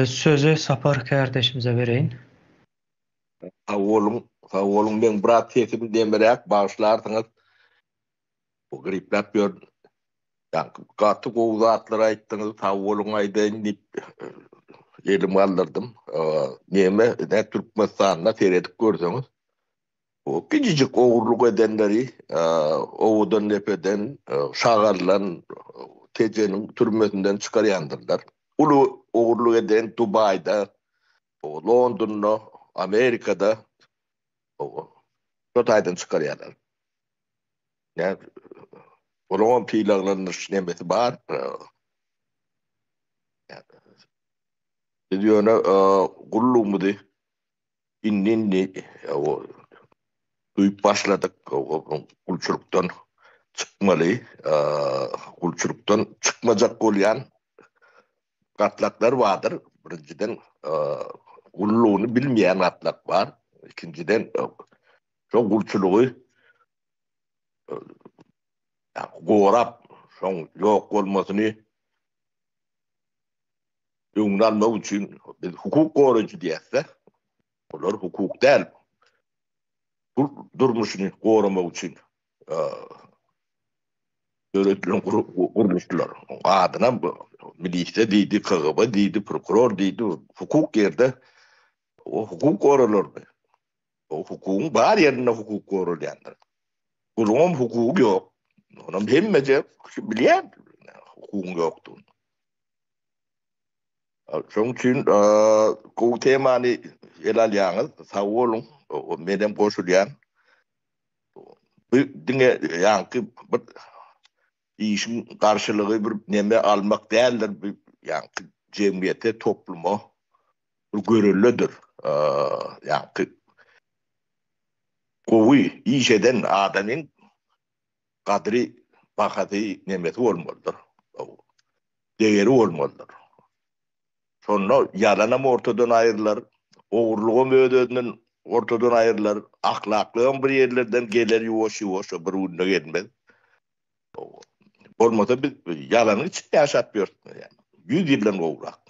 Sözi Sapar kärdeşimize bereýin. Sag boluň, sag boluň. Meň biraz sesim nemeräk, bagyşlarsyňyz. Gripläp ýörün. Ýaňky gaty gowy zatlar aýtdyňyz, sag boluň aýdaýyn diýip elimi galdyrdym. Neme, Türkmenistanda seredip görseňiz, Bu gijijik ogurlyk edenleri owadan depeden, şagallan Tejeniň türmesinden çykarýandyrlar. Uly ogurlyk eden Dubaýda, Londonda, Amerikada şo taýdan çykarýarlar. Ýa olaňam sylaglandyryş nemesi bar. Biz ýöne gullugymyzy indi indi duýup başladyk gulçulykdan çykmaly gulçulykdan çykmajak bolýan gatlaklar bardyr birinjiden gullugyny bilmeýän gatlak bar ikinjiden şo gulçulygy gorap şoň ýok bolmasyny öňüni almak üçin biz hukuk goraýjy diýäs-de, olar hukuk däl. Bu durmuşyny goramak üçin döredilen gurluşlar. Adyna milisde diýdi, KGB diýdi, prokuror diýdi, hukuk ýerde o hukuk goralardy. O hukugyň bar ýerinde hukuk goralýandyr. Gulum hukugy ýok. Onam hemmeje bilýär hukugyň ýokdugyny. Şoň üçin gowy temany ele alýaňyz. Sag boluň. Men hem goşulýan. Bu diňe ýaňky bir işiň garşylygy bir neme almak däldir. Bu ýaňky jemgyýete, topluma bir görelledir. Ýaňky gowy iş eden adamyň gadyry, bahasy nemesi bolmalydyr, degeri bolmalydyr. Şonda ýalanam ortadan aýrylar, ogurlygam öz-özünden ortadan aýrylar, ahlaklygam bir ýerlerden geler ýuwaş-ýuwaş, bir günde gelmez. Bolmasa biz ýalanyň içinde ýaşap ýörüs, ýüz ýyldan gowrak.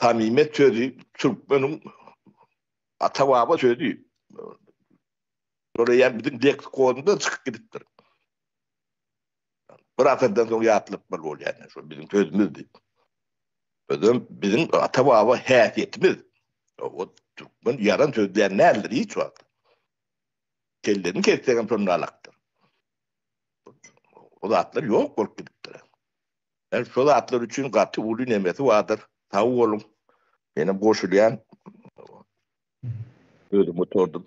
Samimiýet sözi türkmeniň ata-baba sözi. Şol eýýäm biziň leksikonymyzdan çykyp gidipdir. Bir asyrdan soň ýatlapmaly bolýar, ine, şol biziň sözümizdi. Özem biziň ata-baba häsiýetimiz. O türkmen ýalan sözleýän däldir hiç wagt. Kellesini kessek hem şonda alakdyr. O zatlar ýok bolup gidipdir. Men şu zatlar üçin gaty uly nemesi bardyr. Sag boluň. Menem goşulýan. Özüm oturdym.